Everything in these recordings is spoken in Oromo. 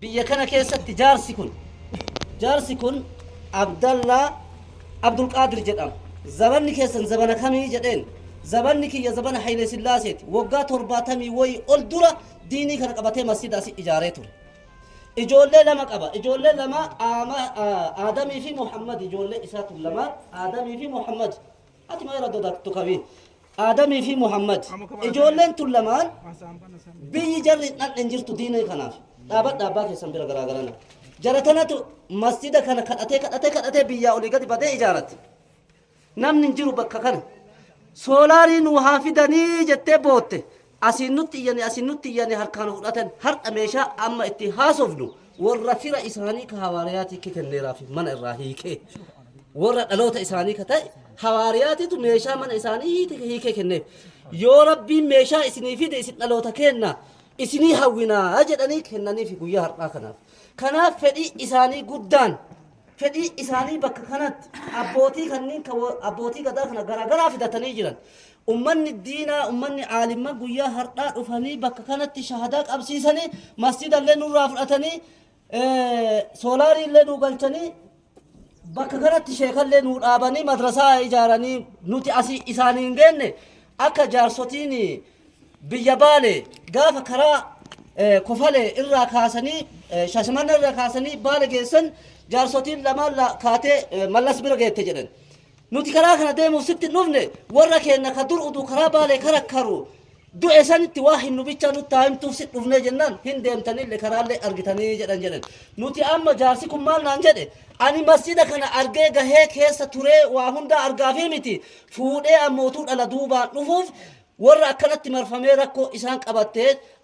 Biyya kana keessatti jaarsi kun jaarsi kun Abdallaa Abdulqaadir jedhama. Zabanni keessan zabana kamii jedheen zabanni kiyya zabana Hayilee Sillaaseeti. Waggaa torbaatamii wayii ol dura diinii kana qabatee masjida asi ijaaree ture. Ijoollee lama qaba. Ijoollee lama Aama- Aa- Aadamii fi Muhammad ijoollee isaatu lama Aadamii fi Muhammad. Ati maal irra dodaattu qabi? Aadamii fi Muhammad ijoolleen tun lamaan biyyi jarri hin dhaqne hin jirtu diinee kanaaf dhaabadha abbaa keessan bira garaagarana. Jara tanatu masjida kana kadhatee kadhatee kadhatee biyyaa olii gadi badee ijaarate. Namni hin jiru bakka kana. Soolaarii nuu haa fidanii jettee bootte. Asiin nutti iyyani asiin nutti iyyani harkaa nu fudhatan hardha meeshaa amma itti haasofnu worra fira isaanii ka hawaariyaatiikki kenneeraafi mana irraa hiikee worra dhaloota isaanii ka ta'e hawaariyaatiitu meeshaa mana isaanii hiite- hiikee kenneef yoo rabbiin meeshaa isinii fide isin dhaloota keenna isinii hawwinaa jedhanii kennaniifi guyyaa har'aa kanaaf kanaaf fedhii isaanii guddaan fedhii isaanii bakka kanatti abbootii kanneen kan wa- abbootii gadaa kana garaagaraa fidatanii jiran Ummanni diinaa, ummanni aalimman guyyaa hardhaa dhufanii bakka kanatti shahadaa qabsiisanii, masjiida illee nurraa fudhatanii, soolaarii illee nuu galchanii, bakka kanatti sheeka illee nuu dhaabanii madrasaa ijaaranii nuti asii isaanii hin geenne akka jaarsotiin biyya baale gaafa karaa kofale irraa kaasanii shashimanna irraa kaasanii baale geessan jaarsotiin lamaan kaatee mallas bira geette jedhan. Nuti karaa kana deemuuf sitti hin dhufne, warra keenna ka dur uduu karaa Baalee karakkaru du'e sanitti waa himnu bichaa nutti haa himtuuf sitti dhufnee jennaan, hin deemtanille karaallee argitanii jedhan jedhan. Nuti amma jaarsi kun maal naan jedhe, Ani masjiida kana argee gahee keessa turee waa hundaa argaafii miti, fuudhee ammoo utuu dhala duubaan dhufuuf Warra akkanatti marfamee rakkoo isaan qabatte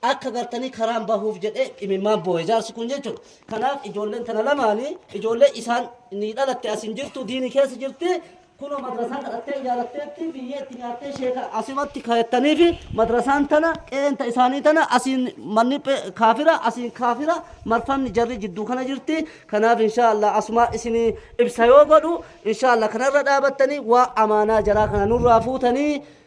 akka gartanii karaan bahuuf jedhee imimmaan booye jaarsi kun jechuudha. Kanaaf ijoolleen tana lamaani ijoollee isaan ni dhalatte as hin jirtu diini keessa jirti kunoo madrasaa kadhattee ijaaratteetti biyyee itti nyaattee sheeka asumatti kayattanii fi madrasaan tana qeenta isaanii tana asiin manni kaafira asiin kaafira marfamni jarri jidduu kana jirti kanaaf inshaallah asumaa isinii ibsa yoo godhu inshaallah kanarra dhaabattanii waa amaanaa jaraa kana nurraa fuutanii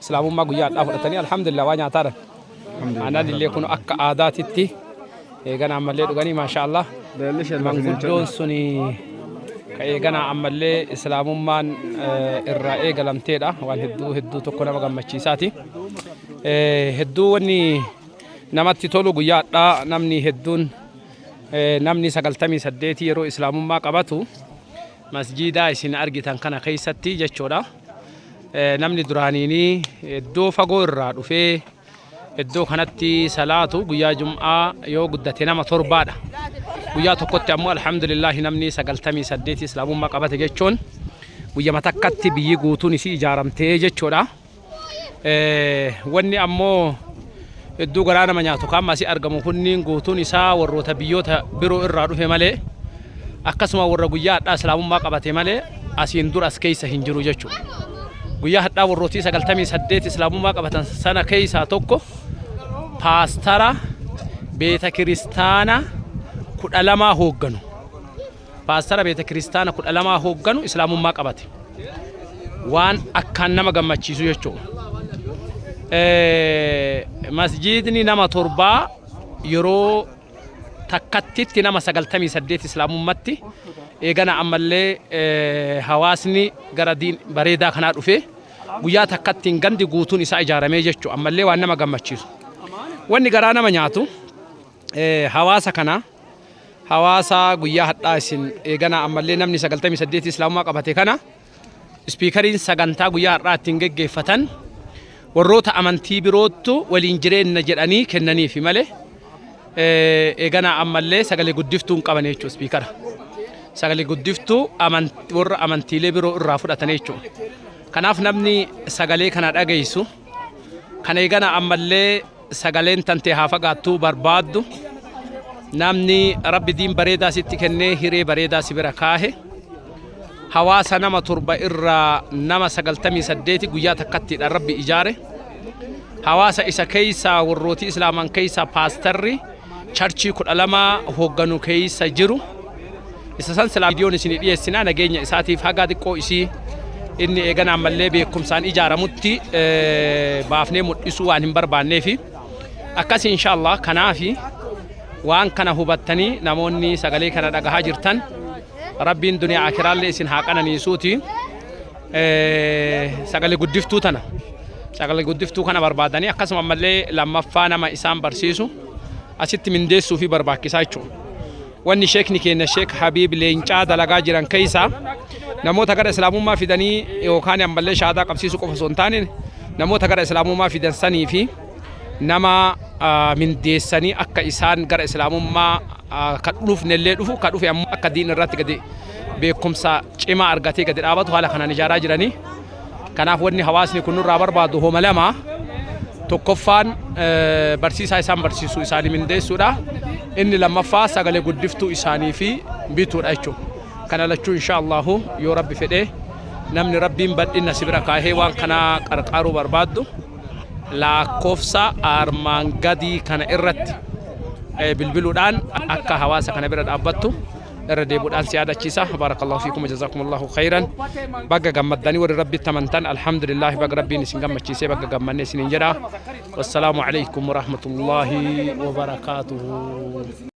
Islaamummaa guyyaa har'aa fudhatanii alhamdulillah waa nyaataara. Aananillee kun akka aadaatitti eeganaa ammallee dhuganii maashaa Allah. Manguddoon sun ka eeganaa ammallee islaamummaan irraa eegalamteedha. Waan hedduu hedduu tokko nama gammachiisaati. Hedduu wanni namatti tolu guyyaa hadhaa namni hedduun namni sagaltamii saddeetii yeroo islaamummaa qabatu masjiidaa isin argitan kana keessatti jechuudha. namni duraaniini iddoo fagoo irraa dhufee iddoo kanatti salaatu guyyaa jum'aa yoo guddate nama torbaadha. Guyyaa tokkotti ammoo alhamdulillahi namni sagaltamii saddeeti islaamummaa qabate jechuun guyyama takkatti biyyi guutuun isii ijaaramtee jechuudha. Wanni ammoo hedduu garaa nama nyaatu kan asii argamu kunniin guutuun isaa warroota biyyoota biroo irraa dhufe malee akkasuma warra guyyaa hadhaa islaamummaa qabate malee asiin dura as keessa hin jiru jechuudha. Guyyaa hadhaa warrootii sagaltamii saddeet islaamummaa qabatan sana keessaa tokko paastara beeta kiristaana kudha lamaa hoogganu. Paastara beetakiristaana 12 hoogganu Islaamummaa qabate. Waan akkaan nama gammachiisu jechuudha. Masjiidni nama torbaa yeroo takkattitti nama 98 Islaamummatti eegana ammallee hawaasni gara diin bareedaa kanaa dhufee guyyaa takkattiin gandi guutuun isaa ijaaramee jechuudha. Ammallee waan nama gammachiisu. Wanni garaa nama nyaatu hawaasa kanaa Hawaasa guyyaa hadhaa isin eeganaa ammallee namni 98 islaamummaa qabate kana ispiikariin sagantaa guyyaa har'aa ittiin geggeeffatan warroota amantii biroottu waliin jireenna jedhanii kennaniifi malee eeganaa ammallee sagalee guddiftuu hin qabane jechuudha ispiikara. Sagalee guddiftuu warra amantiilee biroo irraa fudhatan jechuudha. Kanaaf namni sagalee kana dhageessu kan eeganaa ammallee sagaleen tantee haa fagaattuu barbaaddu namni rabbi diin bareedaa sitti kennee hiree bareedaa si bira kaahe hawaasa nama torba irraa nama sagaltamii saddeeti guyyaa takkattiidha rabbi ijaare hawaasa isa keeysaa warrooti islaaman keeysaa paastarri charchii kudha lama hoogganu keessa jiru. Isa san silaa viidiyoon isinii dhiyeessinaa nageenya isaatiif hagaa xiqqoo isii inni eeganaan mallee beekumsaan ijaaramutti baafnee mul'isuu waan hin barbaanneefi akkas inshaallah kanaafi waan kana hubattanii namoonni sagalee kana dhagahaa jirtan rabbiin duniyaa akiraallee isin haa qananiisuuti. Sagalee guddiftuu tana sagalee guddiftuu kana barbaadanii akkasuma ammallee lammaffaa nama isaan barsiisu asitti mindeessuu fi barbaachisaa jechuudha. Wanni sheekni keenya sheek Habiib leencaa dalagaa jiran keessaa namoota gara islaamummaa fidanii yookaan ammallee shaadaa qabsiisuu qofa osoo hin taane namoota gara islaamummaa fidan sanii fi nama mindeessanii akka isaan gara islaamummaa ka dhufne illee dhufu ka dhufe ammoo akka diin irratti gadi beekumsa cimaa argatee gadi dhaabatu haala kanaan ijaaraa jiranii kanaaf wanni hawaasni kun nurraa barbaadu homa lama tokkoffaan barsiisaa isaan barsiisu isaanii mindeessuudha inni lammaffaa sagalee guddiftuu isaanii fi bituudha jechuudha kana lachuu insha Allahu yoo rabbi fedhee namni rabbiin badhinna si bira kaahee waan kanaa qarqaaruu barbaaddu laakkofsa armaan gadii kana irratti bilbiluudhaan akka hawaasa kana bira dhaabbattu irra deebuudhaan si yaadachiisa baarakallahu fiikum jazakumullahu khayran baga gammaddanii warri rabbitti amantan alhamdulillahi baga rabbiin isin gammachiisee baga gammanne isiniin jedha wassalaamu alaykum warahmatullahi wabarakaatuhu